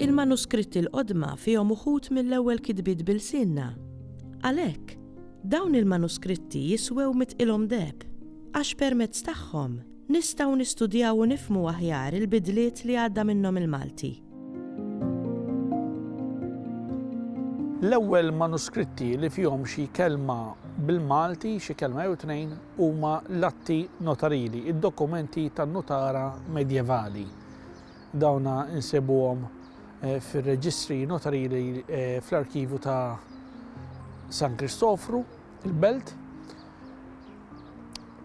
Il-manuskritti l-qodma fihom uħud mill-ewwel kitbiet b'ilsienna. Għalhekk, dawn il-manuskritti jiswew mitqilhom deheb, għax permezz tagħhom Nistgħu nistudjaw u nifhmu aħjar il-bidliet li għadda minnhom il-Malti. L-ewwel manuskritti li fihom xi kelma bil-Malti, xi kelma jew tnejn, huma l-atti notarili, id-dokumenti tan-nutara medjevali. Dawna nsibuhom eh, fir-reġistri notarili eh, fl-arkivju ta' San Kristofru, il-belt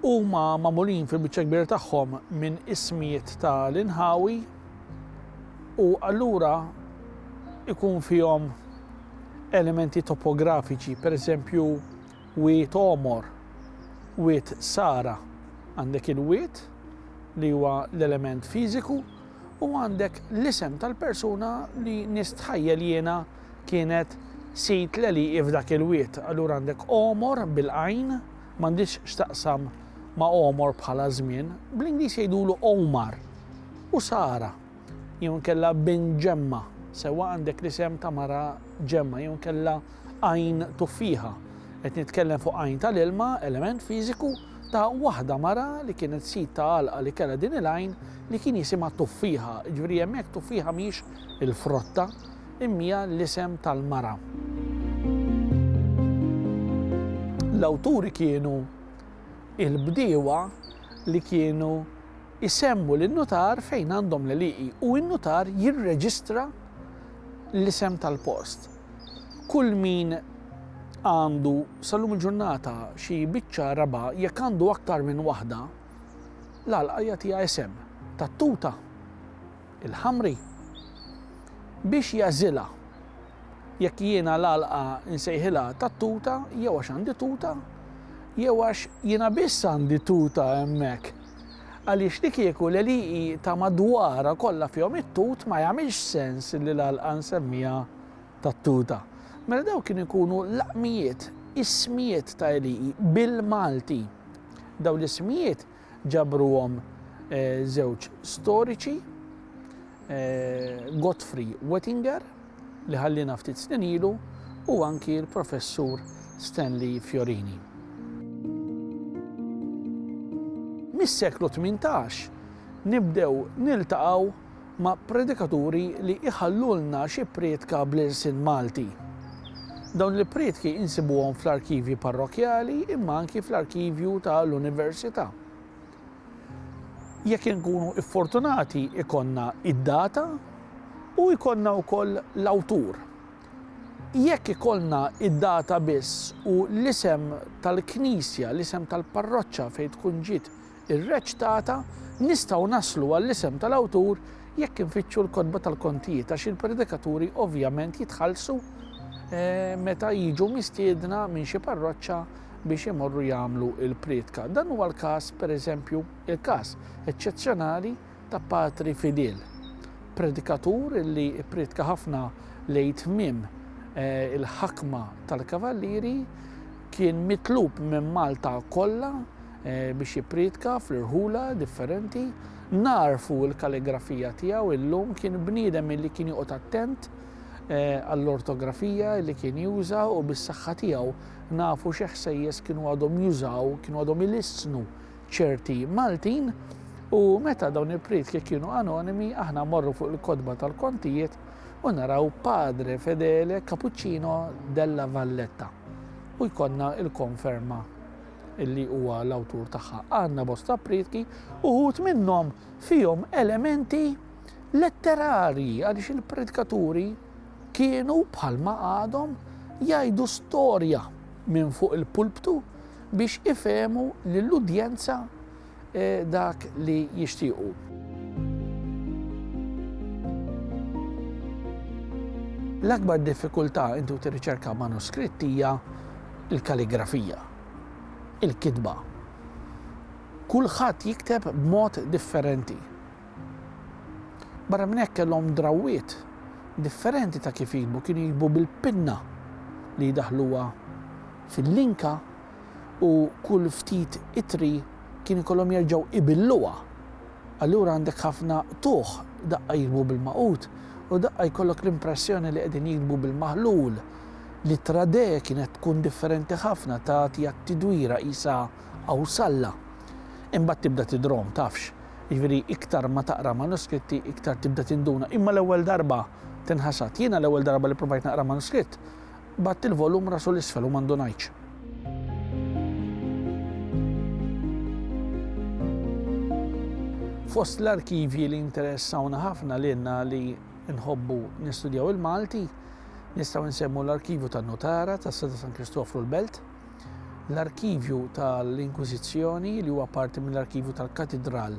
huma magħmulin fil-biċċa kbira tagħhom minn ismijiet ta' l-inħawi u allura ikun fihom elementi topografiċi, per eżempju wiet omor, wiet sara, għandek il-wiet li huwa l-element fiżiku u għandek l-isem tal-persuna li nistħajjel jiena kienet sid l-għelieqi f'dak il-wied. Allura għandek għomor bil-għajn, m'għandhiex x'taqsam ma' għomor bħala żmien, bl-Ingliż jgħidulu Omar u Sara jew inkella bin Ġemma, sewwa għandek l-isem ta' mara Ġemma jew inkella għajn tuffiħa. Qed nitkellem fuq għajn tal-ilma, element fiżiku, ta' waħda mara li kienet sid ta' għalqa li kellha din il-għajn li kien jisimha tuffiħa, ġifieri hemmhekk tuffiħa mhix il-frotta, imja l-isem tal-mara. L-awturi kienu il-bdiewa li kienu jsemmu lin-nutar fejn għandhom l-għelieqi u n-nutar jirreġistra l-isem tal-post. Kull min għandu sal-lum il-ġurnata xi biċċa raba' jekk għandu aktar minn waħda, l-għalqa jagħtiha isem tat-tuta. il-ħamri, biex jagħżilha jekk jiena l-għalqa nsejħilha tat-tuta jew għax għandi tuta jew għax jiena biss għandi tuta hemmhekk. Għaliex li kieku l-għeliqi ta' madwarha kollha fihom it-tut ma jagħmilx sens li l-għalqa nsemmiha tat-tuta. Mela dawn kien ikunu laqmijiet, ismijiet ta' għeliqi bil-Malti. Dawn l-ismijiet Ġabruhom żewġ storiċi, Godfrey Wettinger, li ħallina ftit snin ilu, u anki l-Professur Stanley Fiorini. Mis-seklu 18 nibdew niltaqgħu ma' predikaturi li jħallulna xi prietka bl-irsien Malti. Dawn il-prietki insibuhom fl-arkivji parrokkjali imma anki fl-arkivju ta' l-Università. Jekk inkunu iffortunati ikonna id-data u jkollna wkoll l-awtur. Jekk ikollna id-data biss u l-isem tal-knisja, l-isem tal-parroċċa fejn tkun ġiet Ir-reċtata, Nistgħu naslu għall-isem tal-awtur jekk infittxu l-kotba tal-kontijiet għax il-predikaturi ovvjament jitħallsu meta jiġu mistiedna minn xi parroċċa biex imorru jagħmlu l-prietka. Dan huwa l-każ, pereżempju, il-każ eċċezzjonali ta' Patri Fidel, predikatur li pprietka ħafna lejn tmiem eh, il-ħakma tal-Kavallieri, kien mitlub minn Malta kollha biex jipprietka fl-irħula differenti. Nagħrfu l-kalligrafija tiegħu illum kien bniedem illi kien joqgħod attent eh, għall-ortografija li kien juża u bis-saħħa tiegħu nafu xi ħsejjes kienu għadhom jużaw, kienu għadhom ilissnu ċerti Maltin u meta dawn il-prietki kienu anonimi aħna morru fuq il-kodba tal-kontijiet u naraw Padre Fedele Cappuccino della Valletta u jkollna il-konferma li huwa l-awtur tagħha. Għandna bosta prietki, uħud minnhom fihom elementi letterarji għaliex il-predkaturi kienu bħalma għadhom jgħidu storja minn fuq il-pulptu biex ifehmu lill-udjenza dak li jixtiequ. L-akbar diffikultà inti u tirriċerka manuskritt hija l-kaligrafija, il-kitba. Kulħadd jikteb b'mod differenti. Barra minn hekk kellhom drawwiet differenti ta' kif jiktbu, kienu jiktbu bil-pinna li jdaħluha fil-linka u kull ftit ittri kien ikollhom jerġgħu ibilluha. Allura għandek ħafna qtugħ, daqqa jiktbu bil-magħqud u daqqa jkollok l-impressjoni li qegħdin jiktbu bil-maħlul. L-ittra de kienet tkun differenti ħafna, tagħti għat-tidwira qisha awsalla. Imbagħad tibda tidrom, tafx. Jiġifieri iktar ma taqra manuskritti iktar tibda tinduna. Imma l-ewwel darba tinħasad. Jiena l-ewwel darba li provajt naqra manuskritt, Bgħadt il-volum rasu 'l isfel u ma ndunajtx. Fost l-arkivji li jinteressawna ħafna lilna li nħobbu nistudjaw il-Malti, nistgħu nsemmu l-Arkivju tan-Nutara tas-Seta San Kristofru l-Belt, l-Arkivju tal-Inkwiżizzjoni li huwa parti mill-Arkivju tal-Katidral